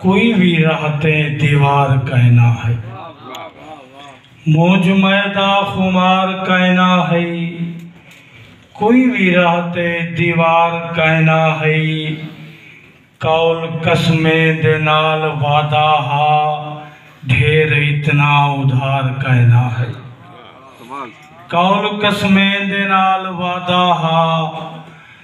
کوئی وی راہ تے دیوار کائنا ہئی مونجھ مئے دا خمار کائنا ہئی کوئی وی راہ تے دیوار کائنا ہئی قول قسمیں دے نال وعدہ ہا ڈھیر اتنا ادھار کائنا ہئی قول قسمیں دے نال وعدہ ہا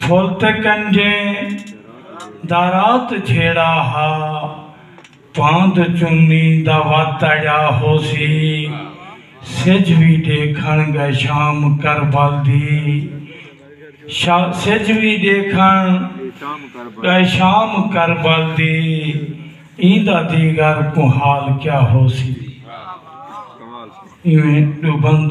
پھل تے کنجیں دا رات جھیڑا ہا پاند چنی دا وت اجا ہوسی سجھ وی ڈیکھن گئے شام کربل دی سجھ وی ڈیکھن گئے شام کربل دی ایندا دیگر کوں حال کیا ہوسی ایویں ڈو بند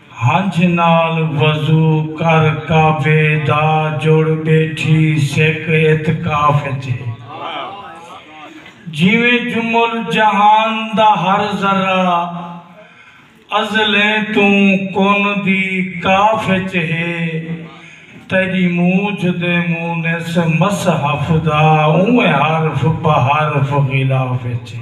ہنجھ نال وضو کر کعبے دا جڑ ٻیٹھی سک اعتکاف اچ ہے جیویں جمل جہان دا ہر ذرہ ازلیں توں کن دی کاف اچ ہے تیڈی موجھ دے مونس مصحف دا اونویں حرف بحرف غلاف اچ ہے۔